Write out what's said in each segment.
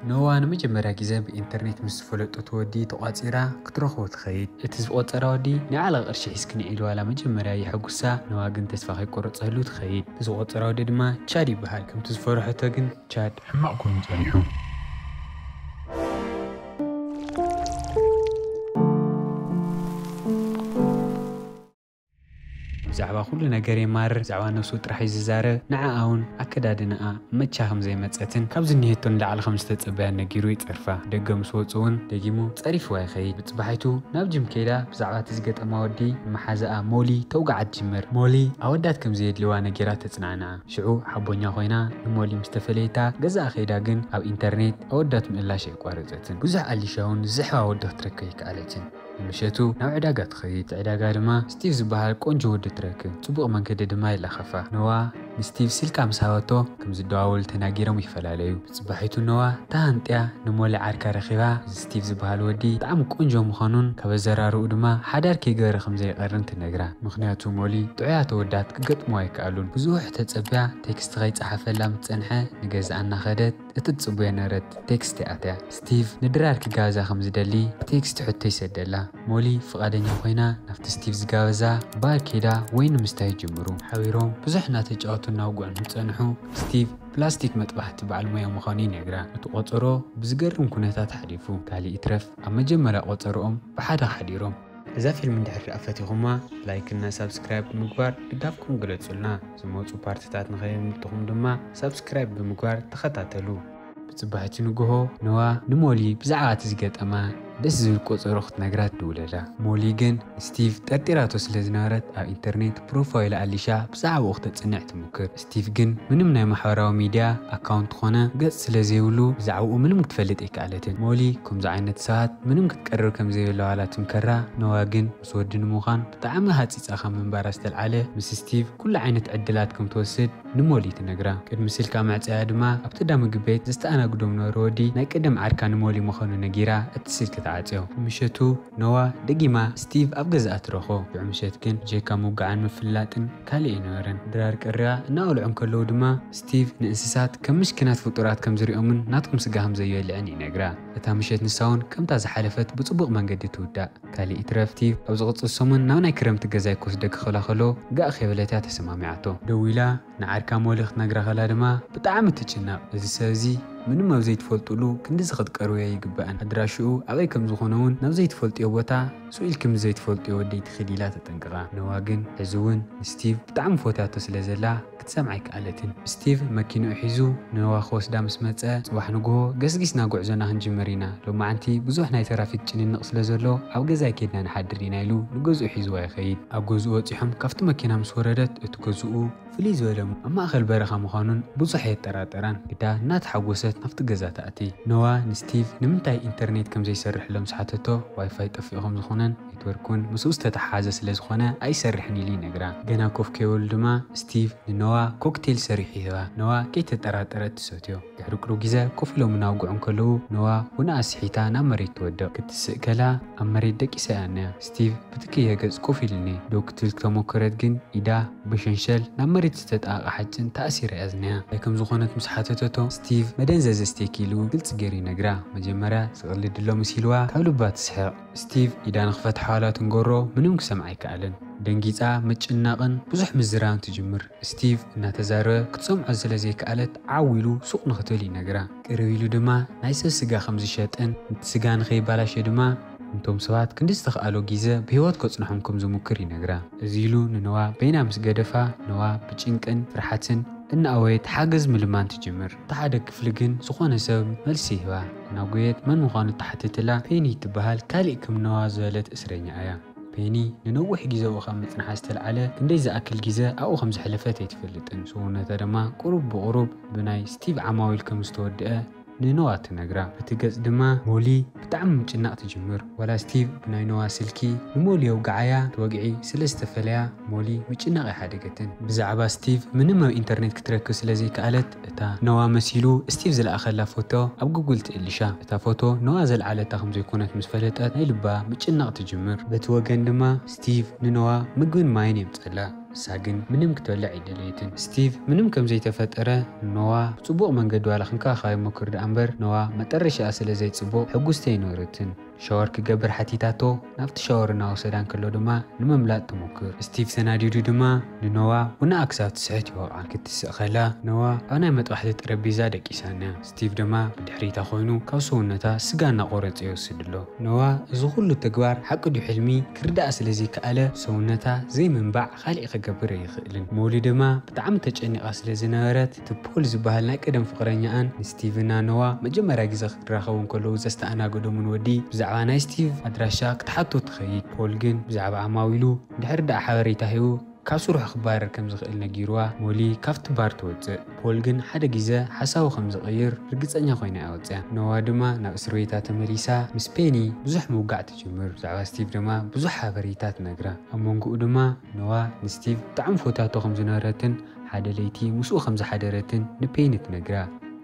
ንህዋ ንመጀመርያ ግዜ ብኢንተርኔት ምስ ዝፈለጠቶ ወዲ ተቋጺራ ክትረኽቦ ትኸይድ። እቲ ዝቖጸራ ወዲ ናይ ዕላል ቅርሺ ሒዝክኒ ኢሉ ዋላ መጀመርያ የሐጉሳ ንህዋ ግን ተስፋ ከይቆረጸትሉ ትኸይድ። እቲ ዝቖጸራ ወዲ ድማ ቻድ ይበሃል ከምቲ ዝፈርሐቶ ግን ቻድ። ሕማቕ ኮይኑ ጸኒሑ። ብዛዕባ ኩሉ ነገር የማርር፣ ብዛዕባ ነብሱ ጥራሕ'ዩ ዝዛረብ፣ ንዓኣ'ውን ኣከዳድናኣ መቻ ከም ዘይመጸትን ካብ ዝኒሀቶ ንላዕሊ ከም ዝተጸበያን ነጊሩ ይጸርፋ። ደገ ምስ ወጹ'ውን ደጊሙ ጸሪፍዋ ይኸይድ። ብጽባሒቱ ናብ ጂም ከይዳ ብዛዕባ'ቲ ዝገጠማ ወዲ ንመሓዛኣ ሞሊ ተውግዓ ትጅምር። ሞሊ ኣወዳት ከም ዘየድልይዋ ነጊራ ተጽናንዓ። ሽዑ ሓቦኛ ኮይና ንሞሊ ምስ ተፈለየታ ገዛኣ ከይዳ ግን ኣብ ኢንተርኔት ኣወዳት ምእላሽ ኣየቋረጸትን። ብዙሕ ኣሊሻ'ውን ዝስሕባ ወዲ ክትረክብ ኣይከኣለትን። ንምሸቱ ናብ ዕዳጋ ትኸይድ። ኣብቲ ዕዳጋ ድማ ስቲቭ ዝበሃል ቆንጆ ወዲ ትረክብ። ጽቡቕ መንገዲ ድማ ይላኸፋ። ኖዋ ንስቲቭ ስልካ ምስ ሃበቶ ከም ዝደዋወሉ ተናጊሮም ይፈላለዩ። ብጽባሒቱ ኖዋ ተሃንጥያ ንሞሊ ዓርካ ረኺባ እዚ ስቲቭ ዝበሃል ወዲ ብጣዕሚ ቆንጆ ምዃኑን ካብ ኣዘራርብኡ ድማ ሓዳር ከይገበረ ከም ዘይቐርን ትነግራ። ምኽንያቱ ሞሊ ጥዑያት ኣወዳት ክገጥምዋ ኣይከኣሉን። ብዙሕ ተጸብያ ቴክስት ከይጸሓፈላ ምስ ጸንሐ ንገዝኣ እናኸደት። እቲ ትጽበዮ ነበረት ቴክስት ይኣትያ። ስቲቭ ንድራር ኪጋበዛ ከም ዝደሊ ብቴክስት ሕቶ ይሰደላ። ሞሊ ፍቓደኛ ኮይና ናብቲ ስቲቭ ዝጋበዛ ባር ከይዳ ወይኒ ምስታይ ይጅምሩ። ሓቢሮም ብዙሕ እናተጫወቱን እናውግዑን ምስ ጸንሑ፣ ስቲቭ ፕላስቲክ መጥባሕቲ በዓል ሞያ ምዃኑ ይነግራ። እቲ ቆጸሮ ብዝገርም ኩነታት ሓሊፉ። ካልእ ይትረፍ ኣብ መጀመርያ ቆጸርኦም ብሓደ ሓዲሮም። እዛ ፊልም እንድሕር ደኣ ፈቲኹማ ላይክ እና ሳብስክራይብ ብምግባር ድጋፍኩም ግለጹልና ዝመጹ ፓርትታት ንኸየምልጥኹም ድማ ሳብስክራይብ ብምግባር ተኸታተሉ። ብጽባሕቲ ንግሆ ነዋ ንሞሊ ብዛዕባ እቲ ዝገጠማ ደስ ዝብል ቆጸሮ ክትነግራ ትድውለላ። ሞሊ ግን ንስቲቭ ጠርጢራቶ ስለ ዝነበረት ኣብ ኢንተርኔት ፕሮፋይል ኣሊሻ ብዛዕባኡ ክተጽንዕ ትሙክር። ስቲቭ ግን ምንም ናይ ማሕበራዊ ሚድያ ኣካውንት ኾነ ገፅ ስለ ዘይብሉ ብዛዕብኡ ምንም ክትፈልጥ ኣይከኣለትን። ሞሊ ከምዚ ዓይነት ሰባት ምንም ክትቀርብ ከም ዘይብላዋ ላትምከራ፣ ኖዋ ግን ምስ ወዲ ንምዃን ብጣዕሚ ሃፂፃ ካብ ምንባራ ዝተልዓለ ምስ ስቲቭ ኩሉ ዓይነት ዕድላት ከም ትወስድ ንሞሊ ትነግራ። ቅድሚ ስልካ ምዕፀያ ድማ ኣብቲ እዳ ምግቢ ቤት ዘስተኣናግዶም ነበሩ ወዲ ናይ ቀደም ዓርካ ንሞሊ ምዃኑ ነጊራ እቲ ስልኪ ትዓፅዮ። ንምሸቱ ኖዋ ደጊማ ስቲቭ ኣብ ገዛኣ ትረኽቦ። ሽዑ ምሸት ግን ብጀካ ምውግዓን ምፍልላጥን፣ ካልእ ኣይነበረን። ድራር ቅርያ እናበልዑ እንከለዉ ድማ፣ ስቲቭ ንእንስሳት ከም ምስኪናት ፍጡራት ከም ዝርእዮምን ናቶም ስጋ ከም ዘዩበልዕን ይነግራ። እታ ምሸት ንሳውን ከምታ ዝሓለፈት ብጽቡቕ መንገዲ ትውዳእ። ካልእ ይትረፍ ስቲቭ ኣብ ዝቕጽል ሰሙን ናብ ናይ ክረምቲ ገዛይ ክወስደኪ ክብላ ከሎ ጋእ ከይበለት'ያ ተሰማሚዓቶ። ደው ኢላ ንዓርካ ሞሊ ክትነግራ ከላ ድማ ብጣዕሚ ትጭነቕ። እዚ ሰብ እዚ ምንም ኣብ ዘይትፈልጡሉ ክንድዚ ክትቀርብዮ ኣይግባእን። ኣድራሽኡ ኣበይ ከም ዝኾነውን ናብ ዘይትፈልጥዮ ቦታ። ሱቕ ኢልክምስ ዘይትፈልጥዮ ወደይ ትኺድ ኢላ ተጠንቅቓ ነዋ ግን ሕዚ ውን ንስቲቭ ብጣዕሚ ፎትያቶ ስለ ዘላ ክትሰምዓ ኣይከኣለትን ስቲቭ መኪንኡ ሒዙ ንነዋ ክወስዳ ምስ መጸ ጽባሕ ንግሆ ገስጊስና ጉዕዞና ክንጅምር ኢና ሎማዓንቲ ብዙሕ ናይ ተራፊክ ጭንንቕ ስለ ዘሎ ኣብ ገዛይ ኬድና ንሓድር ኢና ኢሉ ንገዝኡ ሒዝዋ ይኸይድ ኣብ ገዝኡ በጺሖም ካብቲ መኪና ምስ ወረደት እቲ ገዝኡ ፍልይ ዝበለ ኣብ ማእከል በረኻ ምዃኑን ብዙሕ ኣየጠራጠራን። ግዳ እናተሓጎሰት ናብቲ ገዛ ትኣቲ። ኖዋ ንስቲቭ ንምንታይ ኢንተርኔት ከም ዘይሰርሕሎም ምስ ሓተቶ፣ ዋይፋይ ጠፊኡ ከም ዝዀነን ኔትወርክ እውን ምስኡ ዝተተሓሓዘ ስለ ዝዀነ ኣይሰርሕን ኢሉ ይነግራ። ገና ኮፍ ከይበሉ ድማ ስቲቭ ንኖዋ ኮክቴል ሰሪሑ ይህባ። ኖዋ ከይተጠራጠረት ትሰትዮ። ድሕሪ ቅሩብ ግዘ ኮፍ ኢሎም እናውግዑ እንከለዉ ኖዋ ቡናኣ ስሒታ ናብ መሬት ትወድቕ። ክትስእ ከላ ኣብ መሬት ደቂሳ'ያ እኒኣ። ስቲቭ ብትክየ ገጽ ኮፍ ኢሉ እኒኤ ደው ክትብል ክተሞከረት ግን ኢዳ ብሸንሸል ናብ መሬት ዝተጣበቐ ሓጭን ተኣሲራ'ያ ዝኒኣ። እንታይ ከም ዝኾነት ምስ ሓተተቶ ስቲቭ መደንዘዚ ኣስቴኪ ኢሉ ግልጺ ገይሩ ይነግራ። መጀመርያ ዝቕልድ'ሎ መሲልዋ ካብ ልባ ትስሕቕ። ስቲቭ ኢዳ ንኽፈትሓዋ'ላ ትንገሮ ምንም ክሰምዓ ኣይከኣለን። ደንጊጻ ምጭንናቕን ብዙሕ ምዝራብን ትጅምር። ስቲቭ እናተዛረበ ክትሰምዖ ስለ ዘይከኣለት ዓው ኢሉ ሱቕ ንኽትብል ይነግራ። ቅርብ ኢሉ ድማ ናይ ሰብ ስጋ ከም ዝሸጥን እቲ ስጋ ንኸይበላሾ ድማ ንቶም ሰባት ክንዲ ዝተኽኣሎ ጊዘ ብህይወት ከጽንሖም ከም ዝሙክር ይነግራ። እዚ ኢሉ ንነዋ በይና ምስ ገደፋ ነዋ ብጭንቅን ፍርሓትን እናኣወየት ሓገዝ ምልማን ትጅምር። እቲ ሓደ ክፍሊ ግን ዝኾነ ሰብ መልሲ ይህባ። እናጎየት መን ምዃኑ ትሓትትላ ፔኒ እትበሃል ካሊእ ከም ነዋ ዝበለት እስረኛ እያ። ፔኒ ንነዊሕ ግዜ ኣብኡ ካብ ምጽንሓ ዝተልዓለ ክንደይ ዝኣክል ግዜ ኣብኡ ከም ዘሕለፈት ኣይትፈልጥን፣ ሰውነታ ድማ ቁሩብ ብቑሩብ ብናይ ስቲቭ ዓማዊል ከም ዝተወድኣ ንኖዋ ትነግራ። በቲ ገጽ ድማ ሞሊ ብጣዕሚ ምጭናቕ ትጅምር። ዋላ ስቲቭ ብናይ ኖዋ ስልኪ ንሞሊ የውግዓያ፣ እቲ ወግዒ ስለ ዝተፈለያ ሞሊ ምጭናቕ ኣይሓደገትን። ብዛዕባ ስቲቭ ምንም ኣብ ኢንተርኔት ክትረክብ ስለ ዘይከኣለት እታ ነዋ መሲሉ ስቲቭ ዝለኣኸላ ፎቶ ኣብ ጉግል ትእልሻ። እታ ፎቶ ነዋ ዘልዓለታ ከም ዘይኮነት ምስ ፈለጠት ናይ ልባ ምጭናቕ ትጅምር። በቲ ወገን ድማ ስቲቭ ንነዋ ምግብን ማይን የምጸላ። ንሳ ግን ምንም ክትበልዕ ኣይደለየትን። ስቲቭ ምንም ከም ዘይተፈጠረ ንነዋ ብጽቡቕ መንገዲ ዋላ ክንከባኸባ ይሞክር ደኣ እምበር ነዋ መጠረሽኣ ስለ ዘይጽቡቕ ሕጉስቲ ኣይነበረትን። ሻወር ክገብር ሓቲታቶ፣ ናብቲ ሻወር እናወሰዳ እንከሎ ድማ ንምምላጥ ትሙክር። ስቲቭ ተናዲዱ ድማ ንኖዋ ቡና ክሳብ ትስሕት ይወቕዓ። ክትስእ ከላ ኖዋ ኣብ ናይ መጥባሕቲ ጠረጴዛ ደቂሳ'ያ። ስቲቭ ድማ ብድሕሪታ ኮይኑ ካብ ሰውነታ ስጋ እናቖረጸ ይወስድ'ሎ። ኖዋ እዚ ኩሉ ተግባር ሓቂ ድዩ ሕልሚ ክርዳኣ ስለ ዘይከኣለ ሰውነታ ዘይምንባዕ ካሊእ ክገብር ኣይኽእልን። ሞሊ ድማ ብጣዕሚ ተጨኒቓ ስለ ዝነበረት፣ እቲ ፖል ዝበሃል ናይ ቀደም ፍቕረኛኣን ንስቲቭና ኖዋ መጀመርያ ግዘ ክራኸቡ እንከለዉ ዘስተኣናገዶምን ወዲ ብዛዕባ ናይ ስቲቭ ኣድራሻ ክትሓቶ ትኸይድ። ፖል ግን ብዛዕባ ዓማዊሉ እንድሕር ደኣ ሓበሬታ ሂቡ ካብ ስርሑ ክባረር ከም ዝኽእል ነጊሩዋ ሞሊ ካብቲ ባር ትወጽእ። ፖል ግን ሓደ ግዘ ሓሳቡ ከም ዝቕይር ርግጸኛ ኮይና እያ ወጺኣ። ኖዋ ድማ ናብ እስርቤታ ተመሊሳ ምስ ፔኒ ብዙሕ ምውጋዕ ትጅምር። ብዛዕባ ስቲቭ ድማ ብዙሕ ሓበሬታ ትነግራ። ኣብ መንጎኡ ድማ ኖዋ ንስቲቭ ብጣዕሚ ፎታቶ ከም ዝነበረትን፣ ሓደ ለይቲ ምስኡ ከም ዝሓደረትን ንፔኒ ትነግራ።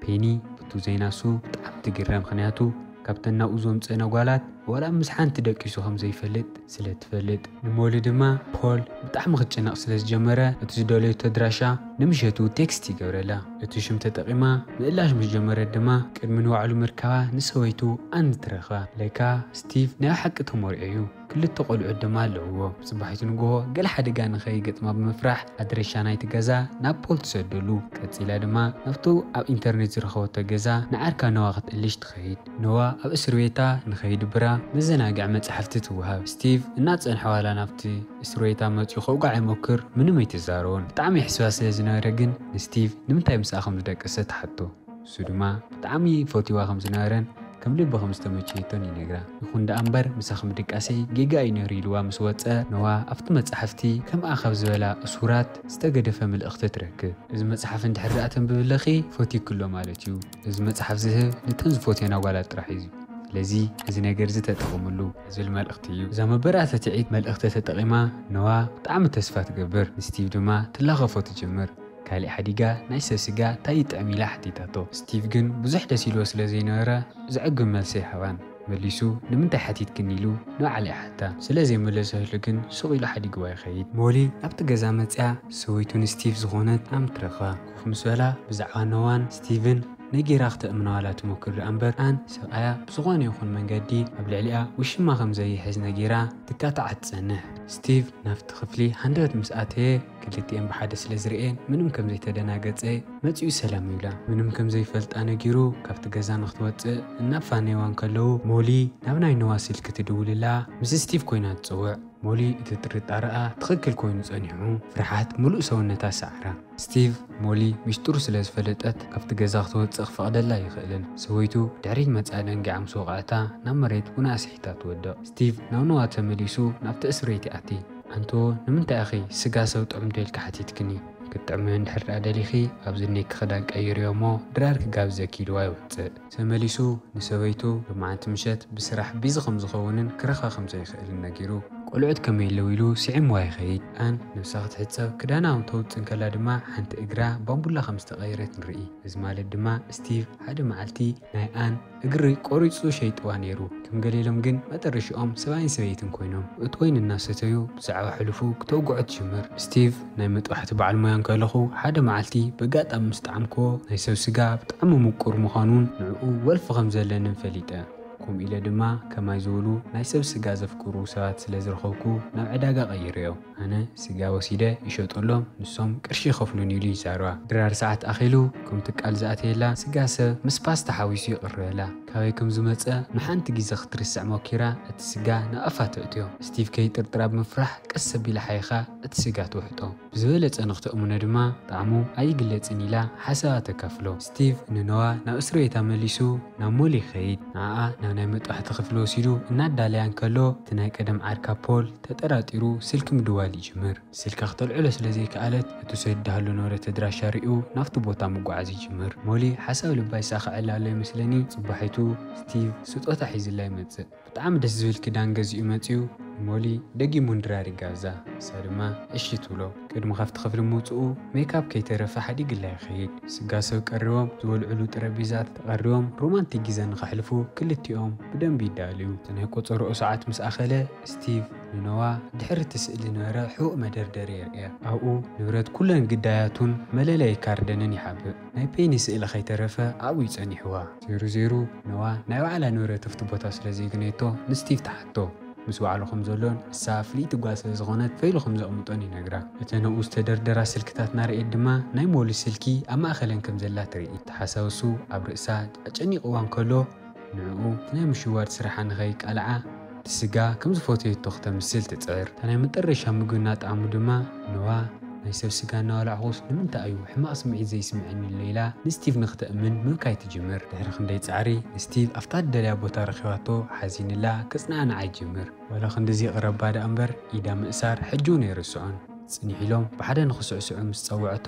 ፔኒ ብቱ ዜና እሱ ብጣዕሚ ትግረም ምኽንያቱ ካብተን ናብኡ ዘምጽእነ ጓላት ዋላ ምስ ሓንቲ ደቂሱ ከም ዘይፈልጥ ስለ ትፈልጥ። ንሞሊ ድማ ፖል ብጣዕሚ ክትጭነቕ ስለ ዝጀመረ እቲ ዝደለዩቶ ኣድራሻ ንምሸቱ ቴክስት ይገብረላ። እቲ ሽም ተጠቒማ ምእላሽ ምስ ጀመረት ድማ ቅድሚ ንባዕሉ ምርካባ ንሰበይቱ ኣን ትረኽባ። ለካ ስቲቭ ናይ ብሓቂ ተመርዕዩ። ክልተ ቆልዑት ድማ ኣለውዎ። ጽባሒቱ ንግሆ ገለ ሓደጋ ንኸይገጥማ ብምፍራሕ ኣድረሻ ናይቲ ገዛ ናብ ፖል ትሰደሉ። ቀጺላ ድማ ናብቱ ኣብ ኢንተርኔት ዝረኸበቶ ገዛ ንዓርካ ኖዋ ክትእልሽ ትኸይድ። ኖዋ ኣብ እስርቤታ ንኸይድብራ መዘናግዒ መጻሕፍቲ ትወሃብ። ስቲቭ እናጸንሐ ዋላ ናብቲ እስርቤታ መጺኡ ከውግዓ ይሞክር ምንም ኣይትዛረቦን። ብጣዕሚ የሕስባ ስለ ዝነበረ ግን ንስቲቭ ንምንታይ ምስኣ ከም ዝደቀሰ ትሓቶ። ንሱ ድማ ብጣዕሚ ይፈትዋ ከም ዝነበረን ከም ልቢ ከም ዝተመቸየቶን ይነግራ። ይኹን ደኣ እምበር ምሳኺ ምድቃሰይ ጌጋ እዩ ነይሩ ኢልዋ ምስ ወጸ ነዋ ኣብቲ መጻሕፍቲ ከምኣ ካብ ዝበላ እሱራት ዝተገደፈ ምልእኽቲ ትረክብ። እዚ መጽሓፍ እንድሕር ደኣ ተንብብለኺ ፈትዩኪ ኣሎ ማለት እዩ። እዚ መጽሓፍ ዝህብ ንተን ዝፈትዮን ኣጓላት ጥራሕ እዩ። ስለዚ እዚ ነገር እዚ ተጠቐምሉ። ዝብል መልእኽቲ እዩ። እዛ መበራተትዒት መልእኽቲ ተጠቒማ ነዋ ብጣዕሚ ተስፋ ትገብር። ንስቲቭ ድማ ትላኸፎ ትጅምር። ካሊእ ሓዲጋ ናይ ሰብ ስጋ ታይ ይጥዕም ኢላ ሓቲታቶ ስቲቭ ግን ብዙሕ ደስ ኢልዎ ስለ ዘይነበረ ዘዕግብ መልሲ ኣይሃባን መሊሱ ንምንታይ ሓቲትክኒ ኢሉ ንባዕላ ይሓታ ስለ ዘይመለሰትሉ ግን ሱቕ ኢሉ ሓዲግዋ ይኸይድ። ሞሊ ናብቲ ገዛ መፂኣ ሰበይቱ ንስቲቭ ዝኾነት ኣም ትረኽባ ኮፍ ምስ በላ ብዛዕባ ኖዋን ስቲቭን ነጊራ ክተእምነዋላ ትሞክር ድኣ እምበር ኣን ሰብኣያ ብዝኾነ ይኹን መንገዲ ኣብ ልዕሊኣ ውሽማ ከም ዘይሕዝ ነጊራ ትካታዓ ትፀንሕ ስቲቭ ናብቲ ክፍሊ ሃንደበት ምስ ኣተየ ክልቲኤን ብሓደ ስለ ዝርእየን ምንም ከም ዘይተደናገጸ፣ መጺኡ ሰላም ይብላ። ምንም ከም ዘይፈልጣ ነጊሩ ካብቲ ገዛ ንኽትወጽእ እናፋነዩዋ እንከለዉ፣ ሞሊ ናብ ናይ ኖዋ ስልኪ ትድውልላ። ምስ ስቲቭ ኮይና ትጽውዕ። ሞሊ እቲ ጥርጣረኣ ትኽክል ኮይኑ ጸኒሑ፣ ፍርሓት ምሉእ ሰውነታ ሰዓራ። ስቲቭ፣ ሞሊ ሚስጥሩ ስለ ዝፈለጠት ካብቲ ገዛ ክትወጽእ ክፈቕደላ ኣይኽእልን። ሰበይቱ ድሕሪት መጺኣ ደንጊዓ ምስ ወቕዐታ ናብ መሬት ቡና ኣስሒታ ትወድቕ። ስቲቭ ናብ ኖዋ ተመሊሱ ናብቲ እስርቤት ይኣቲ። ኣንቶ ንምንታይ ኢኺ ስጋ ሰብ ጥዑም ዶ ኢልኪ ሓቲትክኒ? ክትጥዕሚ እንድሕር ድኣ ደሊኺ ኣብዚ እኒኤኪ ክዳን ቀይርዮ እሞ ድራር ክጋብዘኪ ኢልዋ ይወጽእ። ተመሊሱ ንሰበይቱ ሎማዓንቲ ምሸት ብስራሕ ቢዚ ከም ዝኸውንን ክረኽባ ከም ዘይኽእልን ነጊሩ። ቆልዑት ከመይ ኣለዉ ኢሉ ስዒምዋ ይኸይድ። ኣን ነብሳ ክትሕጸብ ክዳና ኣብ ተውጽእ እንከላ ድማ ሓንቲ እግራ ባምቡላ ከም ዝተቐየረት ንርኢ። እዚ ማለት ድማ ስቲቭ ሓደ መዓልቲ ናይ ኣን። እግሪ ቆሪጹ ሸይጥዋ ነይሩ። ከም ገሌሎም ግን መጠረሽኦም ሰብኣይን ሰበይትን ኮይኖም እቲ ወይኒ እናሰተዩ ብዛዕባ ሕሉፉ ክተውግዖ ትጅምር። ስቲቭ ናይ መጥባሕቲ በዓል ሞያ እንከለኹ ሓደ መዓልቲ በጋጣሚ ምስ ጠዓምክዎ ናይ ሰብ ስጋ ብጣዕሚ ሙቁር ምዃኑን ንዕኡ ወልፊ ከም ዘለንን ፈሊጠ። ከምኡ ኢለ ድማ ከማይ ዝበሉ ናይ ሰብ ስጋ ዘፍቅሩ ሰባት ስለ ዝረኸብኩ ናብ ዕዳጋ ቀይረዮ። ኣነ ስጋ ወሲደ ይሸጠሎም ንሶም ቅርሺ ይኸፍሉኒ ኢሉ ይዛረባ። ድራር ሰዓት ኣኺሉ ከም ትካል ዝኣተየላ ስጋ ሰብ ምስ ፓስታ ሓዊሱ ይቕርበላ። ካበይ ከም ዝመጸ ንሓንቲ ግዜ ክትርስዕ ሞኪራ እቲ ስጋ ናብ ኣፋ ተእትዮ። ስቲቭ ከይጥርጥራ ብምፍራሕ ቀስ ኣቢላ ሓይኻ እቲ ስጋ ትውሕጦ። ብዝበለጸ ንኽተእምኖ ድማ ጣዕሙ ኣይግለጽን ኢላ ሓሳባ ተካፍሎ። ስቲቭ ንኖዋ ናብ እስርቤታ መሊሱ ናብ ሞል ይኸይድ። ንዓኣ ናብ ናይ መጥባሕቲ ክፍሊ ወሲዱ እናዳለያ እንከሎ እቲ ናይ ቀደም ዓርካ ፖል፣ ተጠራጢሩ ስልኪ ምድዋል ይጅምር። ስልካ ክተልዕሎ ስለ ዘይከኣለት፣ እቲ ሰብ ድሃሉ ኖረ ተድራሻ ሪኡ ናብቲ ቦታ ምጉዓዝ ይጅምር። ሞሊ ሓሳብ ልባ ይሳኸዐላ ኣሎ ይመስለኒ፣ ጽባሒቱ ስቲቭ ስጦታ ሒዝላ ይመጽእ። ብጣዕሚ ደስ ዝብል ክዳን ገዚኡ መጺኡ ንሞሊ ደጊሙ ንድራር ይጋብዛ፣ ንሳ ድማ እሺ ትብሎ። ቅድሚ ካብቲ ክፍሊ ምውጽኡ ሜክኣፕ ከይተረፈ ሓዲግላ ይኸይድ። ስጋ ሰብ ቀሪቦም ዝበልዕሉ ጠረጴዛ ተቐሪቦም ሮማንቲክ ጊዘ ንኸሕልፉ ክልቲኦም ብደንቢ ይዳለዩ። እቲ ናይ ቆጸርኦ ሰዓት ምስ ኣኸለ፣ ስቲቭ ንኖዋ ድሕሪ እቲ ስእሊ ንበረ ሕቡእ መደርደሪ የርእያ። ኣብኡ ንብረት ኩለን ግዳያቱን መለለዪ ካርደንን ይሓብእ። ናይ ፔኒ ስእሊ ከይተረፈ ኣብኡ እዩ ጸኒሑዋ። ዜሩ ዜሩ፣ ኖዋ ናይ ባዕላ ንብረት ኣብቲ ቦታ ስለ ዘይግነየቶ ንስቲቭ ትሓቶ። ምስ ባዕሉ ከም ዘሎን ንሳ ፍልይቲ ጓል ስለ ዝዀነት ፈይሉ ከም ዘቕምጦን ይነግራ። እተን ኣብኡ ዝተደርደራ ስልክታት እናረኣየት ድማ ናይ ሞሊ ስልኪ ኣብ ማእከለን ከም ዘላ ትርኢ። እቲ ሓሳብ እሱ ኣብ ርእሳ ኣጨኒቕዋ እንከሎ፣ ንዕኡ እቲ ናይ ምሽዋድ ስራሓ ንኸይቃልዓ ብስጋ ከም ዝፈተየቶ ክተምስል ትጽዕር። እታ ናይ መጠረሻ ምግቢ እናጠዓሙ ድማ ኖዋ፣ ናይ ሰብ ስጋ እናበላዕኹስ ንምንታይ እዩ ሕማቕ ስምዒት ዘይስምዐኒ'ሎ ኢላ ንስቲቭ ንክተእምን ምብካይ ትጅምር። ድሕሪ ክንደይ ጻዕሪ ንስቲቭ ኣብታ እትደልያ ቦታ ረኺባቶ ሓዚንላ ከጽናንዓ ይጅምር። ዋላ ክንድዚ ይቕረባ ደኣ'ምበር ኢዳ ምእሳር ሕጂ'ውን ኣይርስዖን። ጽኒሕ ኢሎም ብሓደ ንክስዕስዑ ምስ ጸውዐቶ፣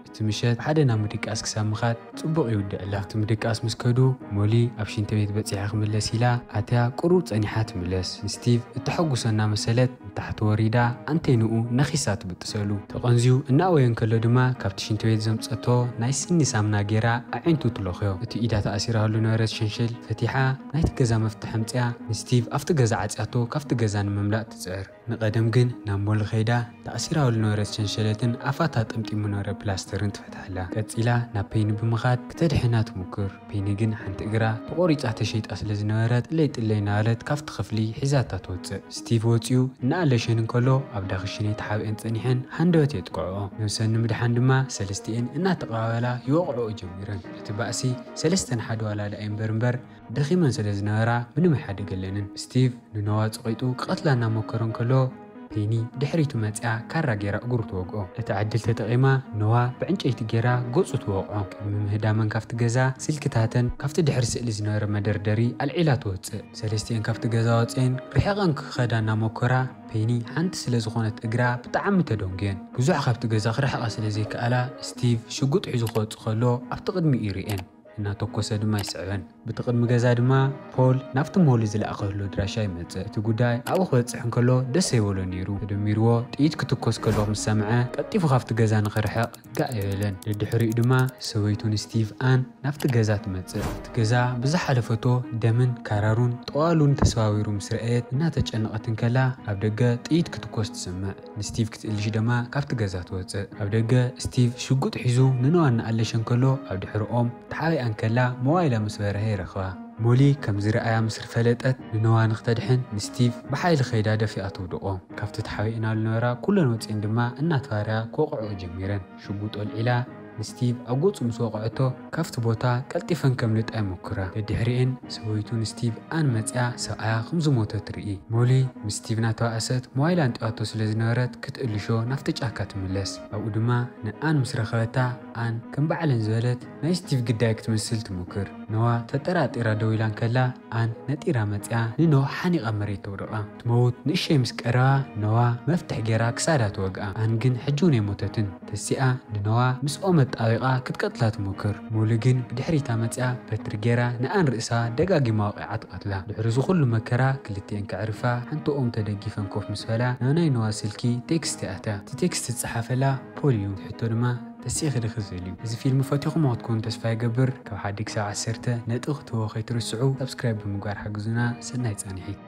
እቲ ምሸት ብሓደ ናብ ምድቃስ ክሳብ ምኻድ ጽቡቕ ይውድዕላ። ኣብቲ ምድቃስ ምስ ከዱ፣ ሞሊ ኣብ ሽንቲ ቤት በጺሐ ክምለስ ኢላ ኣትያ ቁሩብ ጸኒሓ ትምለስ። ንስቲቭ እተሐጉሶ እናመሰለት ንታሕቲ ወሪዳ ኣንቴንኡ ነኺሳ ትብጥሰሉ። ተቐንዝዩ እናእወየ እንከሎ ድማ ካብቲ ሽንቲ ቤት ዘምጸቶ ናይ ስኒ ሳምና ጌራ ኣዒንቱ ትለኽዮ። እቲ ኢዳ ተኣሲራሉ ዝነበረት ሸንሸል ፈቲሓ ናይቲ ገዛ መፍትሕ ኣምጺኣ ንስቲቭ ኣብቲ ገዛ ዓጽያቶ ካብቲ ገዛ ንምምላጥ ትጽዕር። ንቀደም ግን ናብ ሞል ከይዳ ተኣሲራኦ ልነበረት ሸንሸለትን ኣፋታ ጠምጢሙ ነበረ ፕላስተርን ትፈትሓላ። ቀጺላ ናብ ፐይኒ ብምኻድ ክተድሕና ትሙክር። ፐይኒ ግን ሓንቲ እግራ ተቆሪጻ ተሸይጣ ስለ ዝነበረት ጥለይ ጥለይ እናበለት ካብቲ ክፍሊ ሒዛታ ትወጽእ። ስቲቭ ወጺኡ እናኣለሸን እንከሎ ኣብ ዳክሽነይ ተሓቢኤን ጸኒሐን ሃንደበት የጥቅዕኦ። ነብሰን ንምድሓን ድማ ሰለስቲኤን እናተቀባበላ ይወቅዕኦ ጀሚረን። እቲ ባእሲ ሰለስተ ንሓደ ዋላ ደኣ ይንበር እምበር፣ ደኺመን ስለ ዝነበራ ምንም ኣይሓደገለንን። ስቲቭ ንኖዋ ጸቒጡ ክቐትላ እናሞከረ እንከሎ፣ ፔኒ ብድሕሪቱ መጺኣ ካራ ገይራ እግሩ ትወግኦ። እቲ ዕድል ተጠቒማ ኖዋ ብዕንጨይቲ ገይራ ገጹ ትወቕዖ። ቅድሚ ምህዳመን ካብቲ ገዛ፣ ስልክታተን ካብቲ ድሕሪ ስእሊ ዝነበረ መደርደሪ ኣልዒላ ትወጽእ። ሰለስቲኤን ካብቲ ገዛ ወጺኤን ርሒቐን ክኸዳ እናሞከራ፣ ፔኒ ሓንቲ ስለ ዝኾነት እግራ ብጣዕሚ ተደንጉየን። ብዙሕ ካብቲ ገዛ ክርሕቓ ስለ ዘይከኣላ፣ ስቲቭ ሽጉጥ ሒዙ ክወጽእ ከሎ ኣብቲ ቅድሚኡ ይርእየን። እናተኮሰ ድማ ይስዕበን። ብቲ ቅድሚ ገዛ ድማ ፖል ናብቲ ሞሊ ዝለኣኸሉ ኣድራሻ ይመጽእ። እቲ ጉዳይ ኣብኡ ክበጽሕ እንከሎ ደስ ዘይበሎ ነይሩ። ተደሚርዎ ጥይት ክትኮስ ከሎ ምስ ሰምዐ ቀልጢፉ ካብቲ ገዛ ንኽርሕቕ ጋእ ኣይበለን። ደድሕሪኡ ድማ ሰበይቱ ንስቲቭ ኣን ናብቲ ገዛ ትመጽእ። እቲ ገዛ ብዝሓለፈቶ ደምን ካራሩን ጠዋሉን ተሰባቢሩ ምስ ረኣየት እናተጨነቐት እንከላ ኣብ ደገ ጥይት ክትኮስ ትሰምዕ። ንስቲቭ ክትእልሽ ደማ ካብቲ ገዛ ትወጽእ። ኣብ ደገ ስቲቭ ሽጉጥ ሒዙ ንኖኣ እናኣለሸ እንከሎ ኣብ ድሕሪ ኦም ተሓቢኣ እንከላ ሞባይላ ምስ በርሀ ይረኽባ። ሞሊ ከም ዝርኣያ ምስ ርፈለጠት ንኖኣ ንክተድሕን ንስቲቭ ብሓይሊ ከይዳ ደፊኣ ትውድቆ። ካብቲ ተሓቢእናሉ ዝነበራ ኩለን ወጺኤን ድማ እናተባረያ ክወቕዕኦ ጀሚረን። ሽጉጥ ኣልዒላ ንስቲቭ ኣብ ገጹ ምስ ወቕዐቶ ካብቲ ቦታ ቀልጢፈን ከምልጣ ይሞክራ። ደድሕሪኤን ሰበይቱ ንስቲቭ ኣን መጺኣ ሰብኣያ ከም ዝሞተ ትርኢ። ሞሊ ምስ ስቲቭ እናተባእሰት ሞባይላ ኣንጢባቶ ስለ ዝነበረት ክትእልሾ ናብቲ ጫካ ትምለስ። ኣብኡ ድማ ንኣን ምስ ረኸበታ ኣን ከም ባዕለን ዝበለት ናይ ስቲቭ ግዳይ ክትመስል ትሞክር። ኖዋ ተጠራጢራ ደው ኢላ እንከላ ኣን ነጢራ መጺኣ ንኖ ሓኒቓ ኣብ መሬት ተውድቓ። ክትመውት ንእሸይ ምስ ቀረባ ነዋ መፍትሕ ጌራ ክሳዳ ተወግኣ ኣን ግን ሕጂውን ኣይሞተትን ተሲኣ ንነዋ ምስ ኦም ኣጣቢቃ ክትቀትላ ትሞክር ሙሉ ግን ብድሕሪታ መጺኣ በትሪ ጌራ ንኣን ርእሳ ደጋጊማ ወቂዓ ትቀትላ ድሕሪ እዚ ኩሉ መከራ ክልቲኤን ከዕርፋ ሓንቲ ኦም ተደጊፈን ኮፍ ምስ በላ ናብ ናይ ነዋ ስልኪ ቴክስት ይኣትያ እቲ ቴክስት ዝጸሓፈላ ፖል እዩ ትሕቶ ድማ ተሲእኺ ዲኺ ዝብል እዩ እዚ ፊልም ፈቲኹሞ ክትኮኑ ተስፋ ይገብር ካብ ሓዲ ክሳብ ዓሰርተ ነጥቢ ክትህብዎ ከይትርስዑ ሳብስክራይብ ብምግባር ሓግዙና ሰናይ ጻኒሒት።